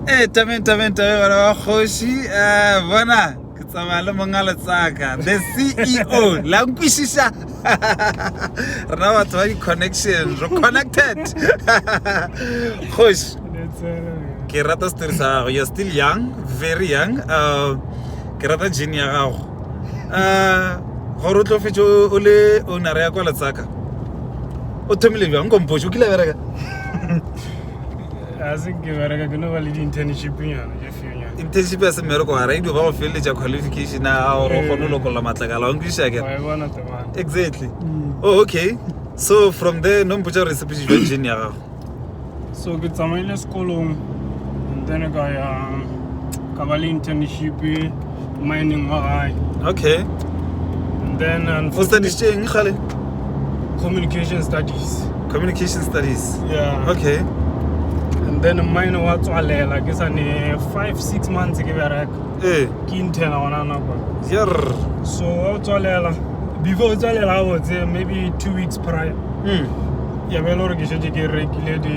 ee tabeng tabeng tabeng bana ba kgoši um bona ke tsamaya le monga letsaka the ceo la nkwešiša rena batho ba di-connection re connected kgoši ke rata story sa gago you're still young very young um ke rata gene ya gago um gore o tlo fetse o le ownera ya kwa letsaka o thomile bjang nkompoši o kile bereka a se ke bereka ke no ba le di-internship nyana tše few nyana internship ya se mmereko wa radio ba go feleletša qualification a gago gore o kgone go Ee. lokolla matlakala wa nkwiša ke wa e bona temana exactly Mm. oh okay so from there no mpotsa gore sepeši jwa jane ya gago so ke tsamaile sekolong and then ka ya ka ba le internship mining wa gae okay and then um, o studiše eng gale communication studies communication studies yeah okay and then mine wa tswalela ke sa ne 5 6 months ke bereka eh ke intena gona nako yer so wa tswalela before o tswalela gabotse maybe two weeks prior mm. ya be e le gore ke šetse ke rekile di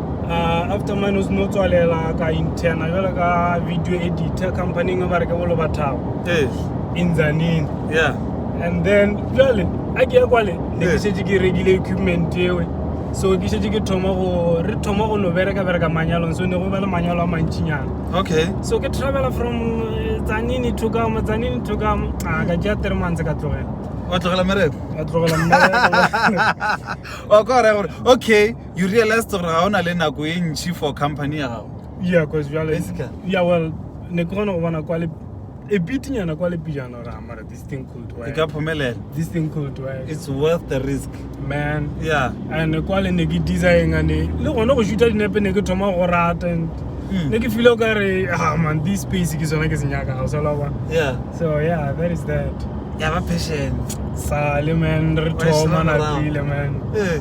uh, after mine o seno tswalela ka interna jalo ka video editor company e ba re ke bolo bathago ee inzanini yeah and then jale a ke ya kwale ne ke shetse ke rekile equipment ewe so ke shetse ke thoma go re thoma go no bereka bereka manyalong so ne go ba le manyalo a mantšinyana okay so ke travela from eh, tsanini to kamo tsanini to kamo a ka ke ya three months ka tlogela wa tlogela mereko ka tlogela mmereko wa kwa raya gore okay you realized gore ga o na le nako e ntšhi for company ya gago yeah because jale Basically. yeah well ne ke gona go bona kwa le e pitinyana kwa le pijana ra mara this thing could e ka work phomelela this thing could work it's worth the risk man yeah and kwa le ne ke designa ne le gone go shuta dinepe ne ke thoma go rata and Mm. ne ke file o ka re ah man this space ke sona ke se nyaka ga o sa la bona yeah so yeah that is that ya ba passion sale man re Wa e sala thoma morago. napile man eh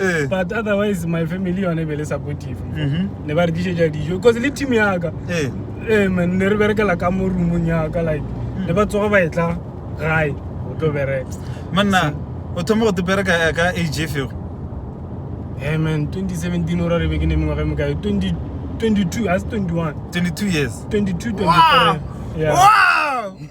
eh. but otherwise my family yone e be le supportive mhm. ne ba re dišetša dijo because le team yaka eh. eh, man ne re berekela ka mo roomong yaka like mm. ne ba tsoga ba etla gae go tlo bereka manna o thoma go te bereka ka age feo e man 2017 o ra re beke ne mengwaga e mokae 22 a se 21 22 years 22 23 yeah. wow!